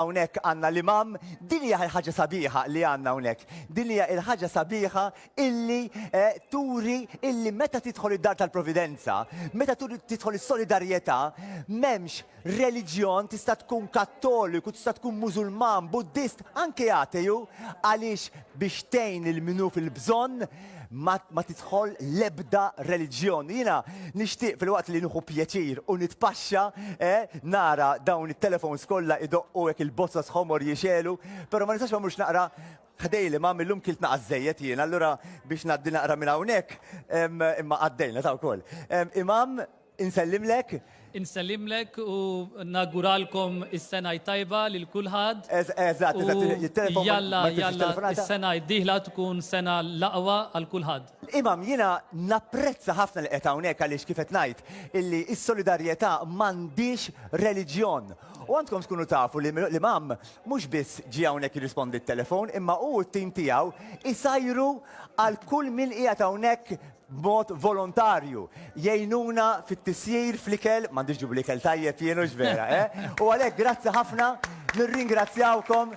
Hawnhekk għandna l-Imam, din hija l-ħaġa sabiħa li għandna hawnhekk. Din hija l-ħaġa sabiħa illi turi illi meta tidħol id-dar tal-Providenza, meta tidħol is-solidarjetà, m'hemmx reliġjon, tista' tkun Kattoliku, tista' tkun Mużulman, Buddist, anke Ateju, għaliex biex tgħin lil min hu fil-bżonn, ma, ma tidħol l-ebda reliġjon. Jiena nixtieq fil-waqt li nieħu pjaċir u nitpaxxa eh, nara dawn it-telefons kollha idoqqu hekk il-bozza sħomor jixelu, però ma nistax ma mhux naqra ħdejli ma millum kilt naqas żejjed jiena, allura biex ngħaddi naqra minn hawnhekk, em, imma għaddejna ta' wkoll. Em, Imam, Insellimlek. Insellimlek u nawguralkom is-sena t-tajba lil kulħadd. Eż, eżatt, eżatt, u it-telefon ma jtellfux it-telefonata. Jalla, jalla, is-sena d-dieħla tkun sena l-aqwa għal kulħadd. Imam, jiena napprezza ħafna li qiegħed hawnhekk għaliex kif qed ngħid illi s-solidarjetà m'għandhiex reliġjon. U għandkom tkunu tafu li l-Imam mhux biss ġie hawnhekk jirrispondi t-telefon imma hu u t-tim tiegħu jsajru għal kull min qiegħed hawnhekk b'mod volontarju, jgħinuna fit-tisjir fl-ikel, m'għandix ġibu l-ikel tajjeb jien hux vera, eh? U għalhekk grazzi ħafna, nirringrazzjawkom.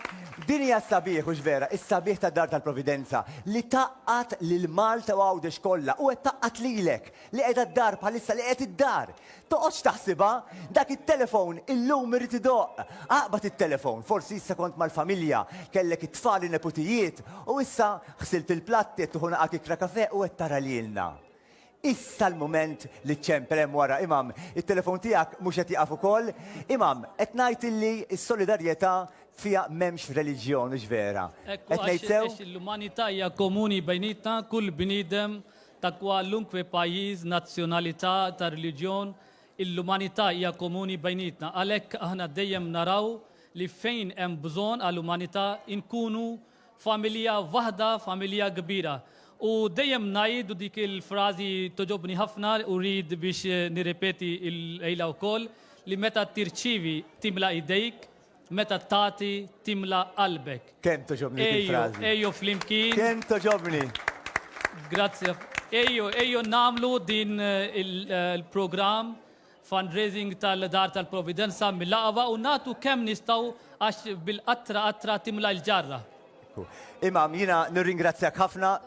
Din hija s-sabiħ hux vera, is-sabiħ tad-Dar tal-Providenza li tgħaqqad lil Malta u Għawdex kollha u qed tgħaqqad lilek li qiegħda d-dar bħalissa, li qiegħed id-dar. Toqgħodx taħsibha, dak it-telefon illum irid idoqq. Aqbad it-telefon, forsi issa kont mal-familja, kellek it-tfal in-neputijiet, u issa ħsilt il-platt, qiegħed tieħu nagħaq ikra kafè u qed tara lilna. Issa l-mument li ċċempel hemm wara, imam, it-telefon tiegħek mhux qed jieqaf ukoll? Imam, qed ngħid illi s-solidarjetà fiha m'hemmx reliġjon, hux vera? Qed ngħid sew? Ekku għax l-umanità hija komuni bejnietna, kull bniedem ta' kwalunkwe pajjiż, nazzjonalità, ta' reliġjon, il-umanità hija komuni bejnietna. Għalhekk aħna dejjem naraw li fejn hemm bżonn għal umanità nkunu familja waħda, familja kbira. U dejjem ngħid u dik il-frażi togħġobni ħafna u rrid biex nirrepeti l-lejla wkoll li meta tirċievi timla' idejk, Meta tagħti timla qalbek. Kemm togħġobni dik il-frażi. Ejju, ejju flimkien. Kemm togħġobni. Grazzi. Ejju, ejju nagħmlu din il-programm fundraising tal-Dar tal-Providenza mill-Aqba u nagħtu kemm nistgħu għax bil-qatra qatra timla l-ġarra. Imam, jiena nirringrazzjak ħafna.